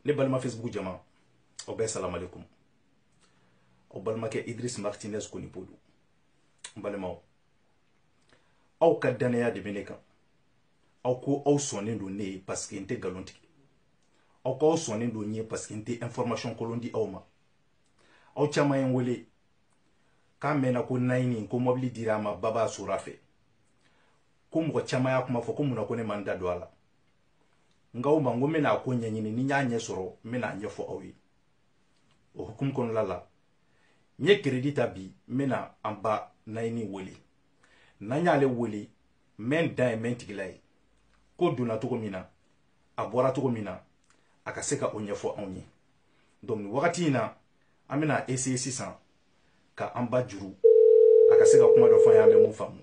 ne balima facebook jama aw bɛɛ salamu alaikum aw balimakɛ idris martinez konipo don n balimaw aw ka dannaya de bɛ ne kan aw ko aw sɔnnen don ne ye paseke n tɛ nkalon tigɛ aw ko aw sɔnnen don n ye paseke n tɛ information kolon di aw ma aw caman ye n wele k'a mɛnna ko nayini ko mɔbili dira a ma baba sora fɛ ko mɔgɔ caman y'a kuma fɔ ko mun na ko ne ma n da don a la n k'aw ma n ko n bɛna a ko ɲɛɲini ni n y'a ɲɛ sɔrɔ n bɛna a ɲɛfɔ aw ye o hukumu kɔnɔna la n ye keredi ta bi n bɛna an ba nayini wele n'an y'ale wele mɛn dan ye mɛn tigi la ye ko donna cogo min na a bɔra cogo min na a ka se ka o ɲɛfɔ anw ye donc nin wagati in na an bɛna essayer sisan ka an ba juru a ka se ka kuma dɔ fɔ an ye an bɛ mun faamu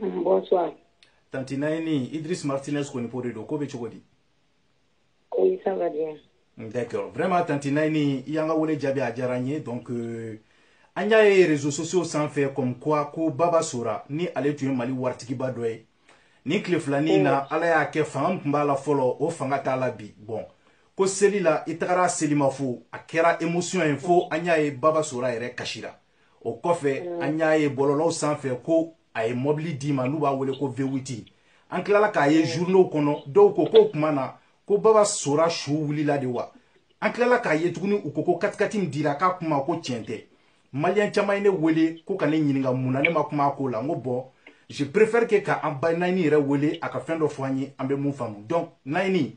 Bonsoir. Tanti Naini, Idriss Martinez Konipo de don, ko bɛ cogo di? Oui, ça va bien. D'accord. Vraiment, Tanti Naini, i y'an ka wele jaabi a diyara n ye. Donc, euh, an y'a ye réseaux sociaux sanfɛ comme quoi ko Baba Sora ni ale tun ye Mali waritigiba dɔ ye. Nin tile fila nin na, Ala y'a kɛ fanga min tun b'a la fɔlɔ, o fanga t'a la bi. Bon, ko seli la, i tagara selimafo, a kɛra émotion ye fo an y'a ye Baba Sora yɛrɛ kasira. o kɔfɛ mm. an y'a ye bɔlɔlɔw sanfɛ ko a ye mɔbili d'i ma n'u b'a wele ko vewiti an tilala k'a ye journaux mm. kɔnɔ dɔw ko k'o tuma na ko baba sora su wulila de wa an tilala k'a ye tuguni u ko ko katikati min dira k'a kuma ko tiɲɛ tɛ maliyɛn caman ye ne wele ko ka ne ɲininka mun na ne ma kuma a ko la n ko bɔn je préfère que ka an ba nayini yɛrɛ wele a ka fɛn dɔ fɔ an ye an bɛ mun faamu donc nayini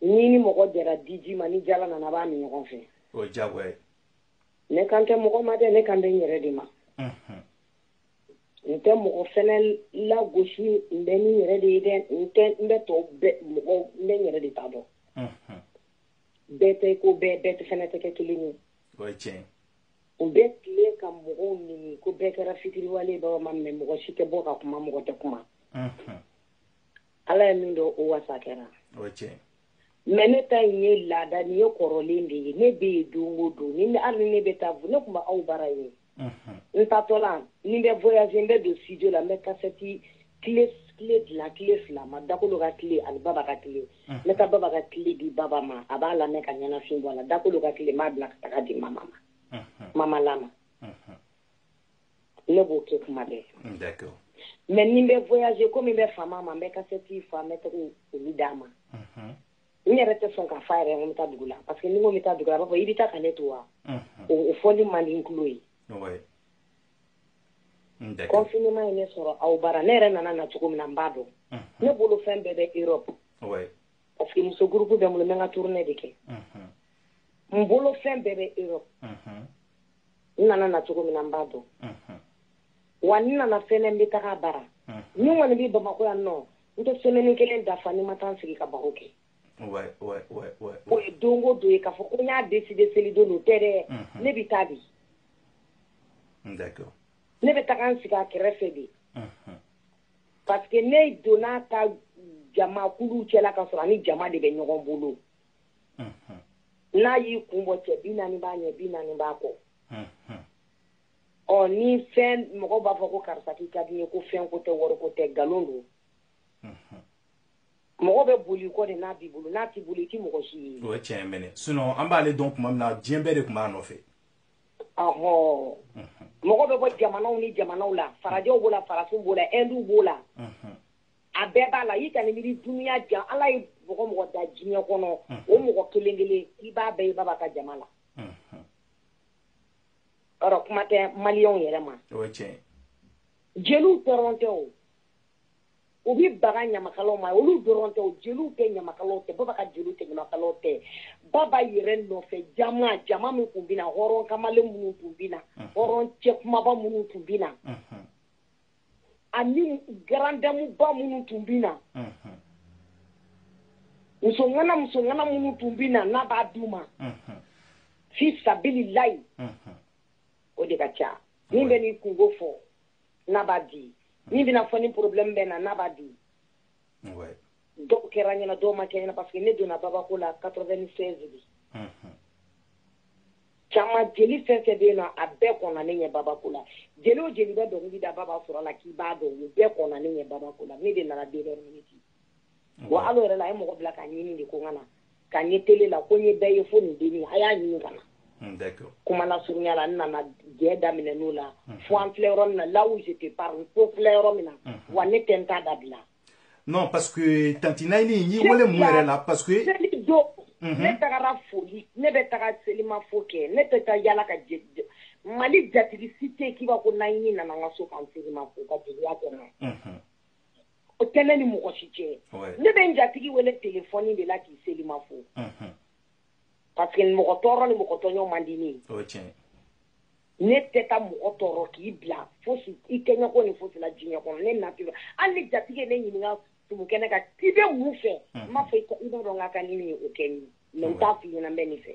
n'i ni mɔgɔ jɛra diji ma ni jala nana b'a min ɲɔgɔn fɛ o jago ne kan tɛ mɔgɔ ma dɛ ne kan bɛ n yɛrɛ de ma n tɛ mɔgɔ fana lagosi n bɛ n yɛrɛ de ye dɛ n tɛ n bɛ tɔ mɔgɔ n bɛ yɛrɛ de ta dɔn bɛɛ tɛ ko bɛɛ bɛɛ tɛ fana tɛ kɛ kelen ye u bɛ tile ka mɔgɔw neni ko bɛɛ kɛra fitiriwale baba ma mɛ mɔgɔ si tɛ bɔ ka kuma mɔgɔ tɛ kuma ala ye min dɔn o wasa kɛra mɛ ne ta in ye laada ni ye kɔrɔlen de ye ne bɛ yen don o don ni hali ne bɛ taa ne tun b'aw bara yen n taatɔ la ni n bɛ voyager n bɛ don studio la n bɛ kasɛti clé dilan clé fila ma dakolo ka clé ani baba ka clé n bɛ taa baba ka clé di baba ma a b'a lamɛn ka ɲɛnafin bɔ a la dakolo ka clé n b'a bila ka taga di mama ma mama lama ne b'o kɛ kuma bɛɛ mm, mais ni n bɛ voyager komi n bɛ fama a ma n bɛ kasɛti fa n bɛ taga olu d'a ma mm-hmm. n yɛrɛ tɛ sɔn k'a f'a yɛrɛ n bɛ taa dugu la parce que ni n ko n bɛ taa dugu la a b'a fɔ i bɛ taa ka ne to wa mm-hmm. o fɔli man di n tulo ye confinement ye ne sɔrɔ aw bara ne yɛrɛ nana na cogo min na n b'a dɔn mm-hmm. ne bolo fɛn bɛɛ bɛ europe parce que muso groupe bɛ n bolo n bɛ n ka tournée de kɛ n bolo fɛn bɛɛ bɛ europe n nana na cogo min na n b'a dɔn wa n nana fɛnɛ n bɛ taga a bara ni n kɔni bɛ bamakɔ yan nɔ n tɛ semaine kelen dafa ni n ma taa n sigi ka baro kɛ o ye don o don ye k'a fɔ ko n y'a décider selidon don tɛ dɛ ne bɛ taa de ne bɛ taga n sigi a kɛrɛfɛ de parce que ne donna a ta jamakulu cɛla k'a sɔrɔ a ni jama de bɛ ɲɔgɔn bolo n'a y'i kun bɔ cɛ bi naani b'a ɲɛ bi naani b'a kɔ ɔ ni fɛn mɔgɔ b'a fɔ ko karisa k'i ka di n ye ko fɛn ko tɛ wari ko tɛ nkalon don mɔgɔ bɛ bol'i kɔ de n'a b'i bolo n'a t'i bolo i tɛ mɔgɔ si ye o ye tiɲɛ mɛnɛ sinon an b'ale dɔn tuma min na diɲɛ bɛɛ de tun b'a nɔfɛ ɔhɔ mɔgɔ bɛ bɔ jamanaw ni jamanaw la farajɛw b'o la farafinw b'o la ɛnduw b'o la a bɛɛ b'a la i ka nin miiri dunya jan ala ye mɔgɔ o mɔgɔ da diɲɛ kɔnɔ o mɔgɔ kelen kelen i b'a bɛɛ ye baba ka jama la ɔ kuma tɛ maliyɛnw yɛrɛ ma jeliw dɔrɔn tɛ o u bɛ baga ɲamakalaw ma olu dɔrɔn tɛ jeliw tɛ ɲamakalaw tɛ baba ka jeliw tɛ ɲamakalaw tɛ baba yɛrɛ nɔfɛ jama jama min tun bɛ na hɔrɔn kamalen minnu tun bɛ na hɔrɔn cɛ kumaba minnu tun bɛ na ani grande dame ba minnu tun bɛ na musoŋana musoŋana minnu tun bɛ na n'a b'a d'u ma fi sabilillahi o de ka ca min bɛ n'i kunko fɔ n'a b'a di min bɛ n'a fɔ nin problème bɛ n na n'a b'a di dɔw kɛra n ɲɛ na dɔw ma kɛ n ɲɛ na parce que ne donna babako la 96 de caman jeli fɛn o fɛn bɛ yen nɔ a bɛɛ kɔnna ne ɲɛ babako la jeli o jeli bɛ dɔnkili da baba sora la k'i b'a dɔn u bɛɛ kɔnna ne ɲɛ babako la ne de nana dernière minute wa hal'o yɛrɛ la a ye mɔgɔ bila ka n ɲini de ko n ka na ka n ye tele la ko n ye bɛɛ ye fo nin denni a y'a ɲini ka na hmm, kuma lasurunya la n nana jɛ daminɛn'o la hmm. fo an filɛ yɔrɔ min na là où je te parle fo n filɛ yɔrɔ min na hmm. wa ne tɛ n ta dabila non parce que tanti nayini n y'i wele mun yɛrɛ la parce que seli don ne tagara foli ne bɛ taga selimafo kɛ ne tɛ taa yaala ka mali jatigi si tɛ k'i b'a ko nayini nana n ka so ka n selimafo ka jeliya kɛ n na o tɛ ne ni mɔgɔ si cɛ ne bɛ n jatigi wele telefɔni de la k'i seli ma fo parce que mɔgɔ tɔɔrɔ ni mɔgɔ tɔɲɔ man di ne ye ne tɛ taa mɔgɔ tɔɔrɔ k'i bila fosi kɛ n ye kɔni fosi la diɲɛ kɔnɔ ne na tɛ hali ni jatigi ye ne ɲininka sumukɛnɛ kan k'i bɛ mun fɛ n b'a fɔ i b'a dɔn n ka kan ni nin o kɛ n ye n t'a fɔ i ɲɛna n bɛ nin fɛ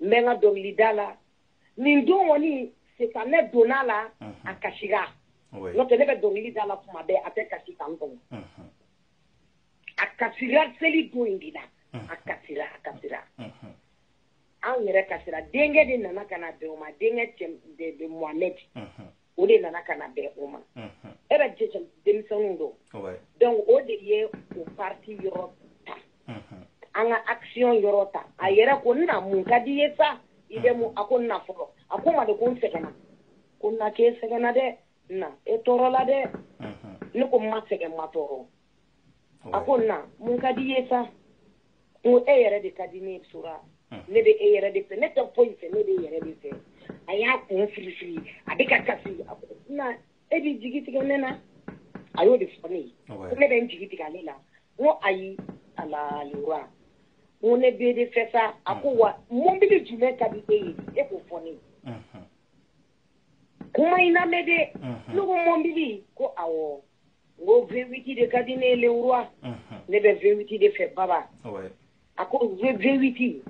n bɛ n ka dɔnkilida la nin don kɔni sitanɛ donn'a la a kasira n'o tɛ ne bɛ dɔnkili da la tuma bɛɛ a tɛ kasi tan kɔnɔ a kasira seli don in de la a kasira a kasira anw yɛrɛ kasira denkɛ de nana ka na bɛn o ma denkɛ de Mohamed o de nana ka na bɛn o ma e bɛ jɛjɛ denmisɛnninw don dɔnku o de ye o pati yɔrɔ ta an ka action yɔrɔ ta a yɛrɛ ko na mun ka di i ye sa i bɛ mun a ko na fɔlɔ a ko n ma de ko n sɛgɛnna ko na k'e sɛgɛnna dɛ na e tɔɔrɔla dɛ ne ko n ma sɛgɛn n ma tɔɔrɔ a ko na mun ka di i ye sa n ko e yɛrɛ de ka di ne sora ne bɛ e yɛrɛ de fɛ ne tɛ foyi fɛ ne bɛ e yɛrɛ de fɛ a y'a kun firifiri a bɛ ka kasi a ko na e b'i jigi tigɛ ne na a y'o de fɔ ne ye ko ne bɛ n jigi tigɛ ale la n ko ayi ala le roi n ko ne b'e de fɛ sa a ko wa mɔbili jumɛn ka di e ye e k'o fɔ ne ye kuma in lamɛn dɛ ne ko mɔbili ko awɔ n ko vewiti de ka di ne ye le roi ne bɛ vewiti de fɛ baba a ko vewiti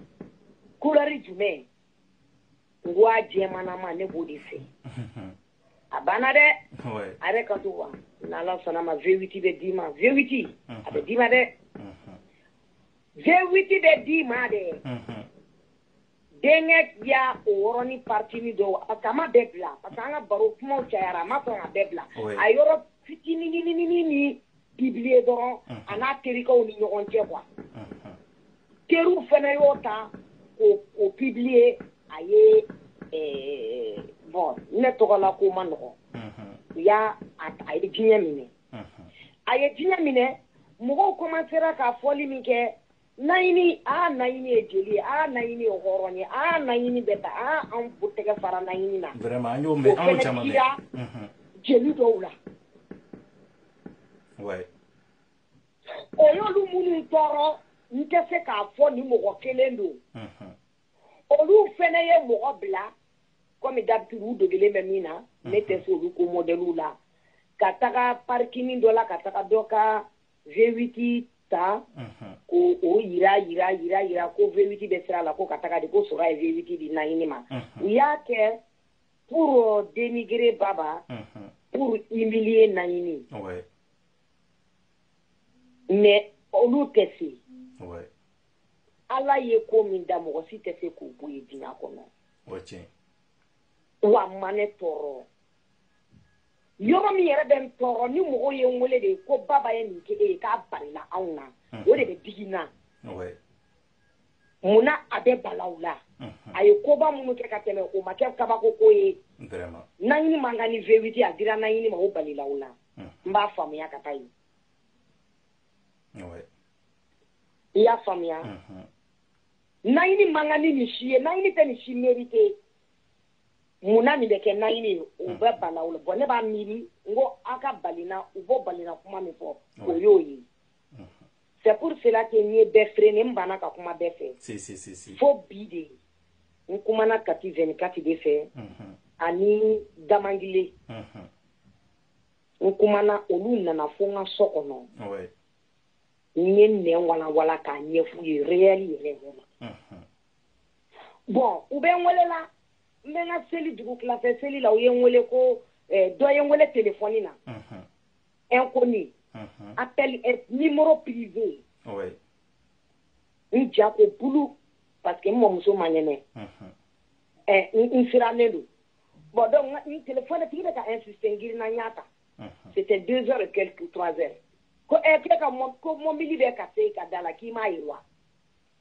kulɛri jumɛn n ko a jɛmanama ne b'o de fɛ a banna dɛ a yɛrɛ ka to wa n'ala sɔnn'a ma vewiti bɛ d'i ma vewiti a bɛ d'i ma dɛ vewiti bɛ d'i ma dɛ denkɛ y'a o yɔrɔnin partinin dɔ parce qu'a m'a bɛɛ bila parce que an ka baro kumaw cayara a ma sɔn k'a bɛɛ bila a yɔrɔ fitinin nin publier dɔrɔn a n'a terikɛw ni ɲɔgɔn cɛ kuwa teriw fana y'o ta k'o publier a ye bon ne tɔgɔlako man nɔgɔn u y'a a ye diɲɛ minɛ a ye diɲɛ minɛ mɔgɔw komansera ka fɔli min kɛ naɲini aa naɲini ye jeli ye aa naɲini ye hɔrɔn ye aa naɲini bɛɛ ta aa an b'u tɛgɛ fara naɲini na vraiment an y'o mɛn an y'o caman mɛn mhm. jeli dɔw la ouais o y'olu minnu tɔɔrɔ n tɛ se k'a fɔ ni mɔgɔ kelen don mhm. olu fɛnɛ ye mɔgɔ bila kɔmi d'habitude u degelen bɛ min na ne tɛ se olu ko mɔdɛliw la ka taga parikini dɔ la ka taga dɔ ka vewiti ta k'o jira jira jira jira ko vewiti bɛ sira la ko ka taga de ko sora ye vewiti di naɲini ma u y'a kɛ pour dénigrer baba pour humilier naɲini mais olu tɛ se ala ye ko min da mɔgɔ si tɛ se k'o bɔ yen diɲɛ kɔnɔ wa a ma ne tɔɔrɔ yɔrɔ min yɛrɛ bɛ n tɔɔrɔ ni mɔgɔw ye n wele de ko baba ye nin kɛ e ye k'a balila anw na hmm. o de bɛ digi n na mun na a bɛ bala u la hmm. a ye koba minnu kɛ ka tɛmɛ o ma kɛ kabako ko ye naɲini man kan ni vewiti a dira naɲini ma o balila u la hmm. n b'a faamuya ka taa yen i y'a faamuya naɲini man kan ni nin si ye naɲini tɛ nin si mériter mun na nin bɛ kɛ naɲini ye o bɛ bala u la bɔn ne b'a miiri n ko aw ka balina u b'o balina kuma min fɔ o y'o ye c'est pour cela que n ye bɛɛ freiner n banna ka kuma bɛɛ fɛ fo bi de n kumana kati vingt-quatre de fɛ ani damangile n kumana olu nana fo n ka so kɔnɔ n ye nin walanwalan k'a ɲɛf'u ye réel yɛrɛ yɛrɛ ma bɔn u bɛ n wele la n bɛ n ka seli dugutila fɛ seli la u ye n wele ko eh, dɔ ye n wele telefɔni na inconnu appel numéro privé n ja ko bulu parce que n mɔmuso man kɛnɛ eh, n sirannen don bɔn donc n telefɔni tigi bɛ ka insister n girinna n y'a ta c'était deux heures et quelques trois heures ko ɛ eh, k'e ka ko mɔbili bɛ ka se i ka da la k'i m'a ye wa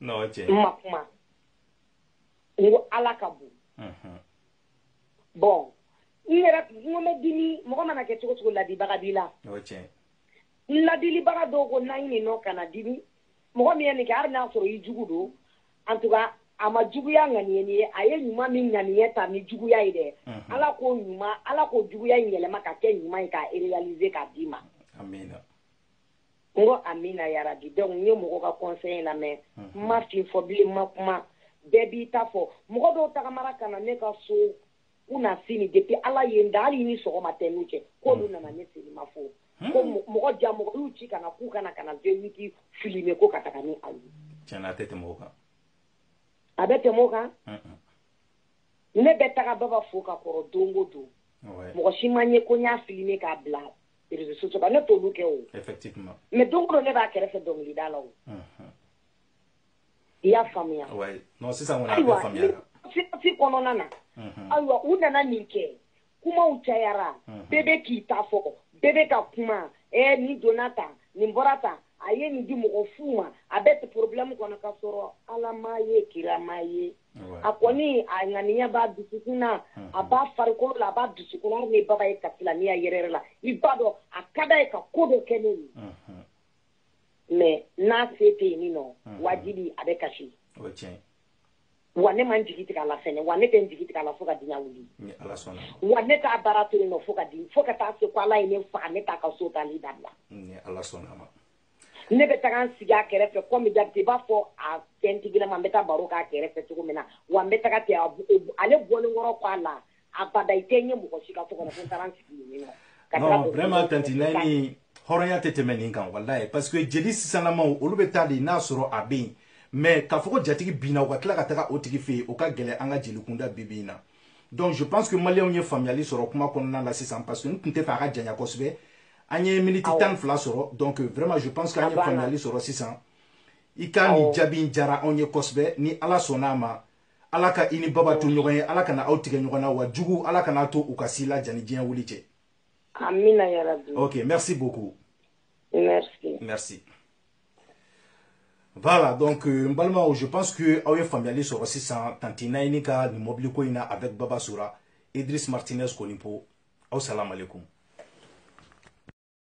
ma kuma n ko ala ka bon bɔn n yɛrɛ n ko n bɛ dimi mɔgɔ mana kɛ cogo cogo ladibaga b'i la n ladilibaga dɔw ko naɲini non kana dimi mɔgɔ min ye nin kɛ hali n'a sɔrɔ i jugu don en tout cas a ma juguya ŋaniye nin ye a ye ɲuman min ŋaniye ta ni juguya ye dɛ ala k'o ɲuman ala k'o juguya in yɛlɛma ka kɛ ɲuman ye k'a réaliser k'a d'i ma n ko amina yarabi donc n ye mɔgɔ ka conseil lamɛn n ma fɛn fɔ bilen n ma kuma bɛɛ b'i ta fɔ mɔgɔ dɔw tagamara ka na ne ka so u na sini depuis ala ye n da hali i ni sɔgɔma tɛ n n'u cɛ k'olu nana ne seli ma fo ko mɔgɔ jaa mɔgɔ y'u ci ka na k'u ka na ka na vewiti filmer ko ka taga ni a ye tiɲɛ na a tɛ tɛmɛ o kan a bɛ tɛmɛ o kan ne bɛ taga baba fo ka kɔrɔ don o don mɔgɔ si ma n ye ko n y'a filmer k'a bila réseaux sociaux kan ne t'olu kɛ o effectivement mais don o don ne b'a kɛrɛfɛ dɔnkilida la o unhun i y'a faamuya ouais non sisan kɔni a bɛɛ faamuyara sirasi kɔnɔna na unhun ayiwa u nana nin kɛ kumaw cayara bɛɛ bɛ k'i ta fɔ bɛɛ bɛ ka kuma ɛɛ nin donna tan nin bɔra tan a ye nin di mɔgɔ fu ma a bɛ problème kɔnɔ ka sɔrɔ ala m'a ye kira m'a ye a kɔni a ŋaniya b'a dusukun na a b'a farikolo la a b'a dusukun na hali ni baba ye kasi la ne ɲa yɛrɛ la i b'a dɔn a ka d'a ye ka ko dɔ kɛ ne ye mais n'a se tɛ yen min nɔ wajibi a bɛ kasi wa ne ma n jigi tigɛ a la fɛn wa ne tɛ n jigi tigɛ a la fo ka diɲɛ wuli wa ne t'a baara to yen nɔ fo ka di fo ka taa se ko ala ye ne faga ne t'a ka so taali dabila ne bɛ taga n sigi a kɛrɛfɛ comme d'habitude i b'a fɔ a fɛntigilama n bɛ taa baro k'a kɛrɛfɛ cogo min na wa n bɛ taga ten ale bɔlen kɔrɔ k'a la abada i tɛ n ye mɔgɔ si ka so kɔnɔ ko n taara n sigi yen nɔ ka taa baro- vraiment tanti nayini hɔrɔnya tɛ tɛmɛ nin kan walayi parce que jeli sisanlamaw olu bɛ taa de n'a sɔrɔ a bɛ yen mais k'a fɔ ko jatigi binna u ka tila ka taga o tigi fɛ yen o ka gɛlɛn an ka jeli kunda bi bi in na donc je pense que maliyɛnw ye faamuyali sɔrɔ kuma kɔnɔna la sisan parce que n tun t'a fɛ a ka janya kosɛbɛ an ye miniti tan ni fila sɔrɔ donc vraiment je pense que an ye faamuyali sɔrɔ sisan i ka nin jaabi in diyara anw ye kosɛbɛ ni ala sɔnna a ma ala ka i ni baba to ɲɔgɔn ye ala kana aw tigɛ ɲɔgɔn na wa jugu ala kan'a to u ka s'i la jani diɲɛ wuli cɛ amina yarabi ok merci beaucoup merci merci Voilà, donc euh, n balimaw je pense que aw ye faamuyali sɔrɔ sisan tanti nayini ka nin mɔbili ko in na avec baba sora idriss martinez konipo aw salamalekum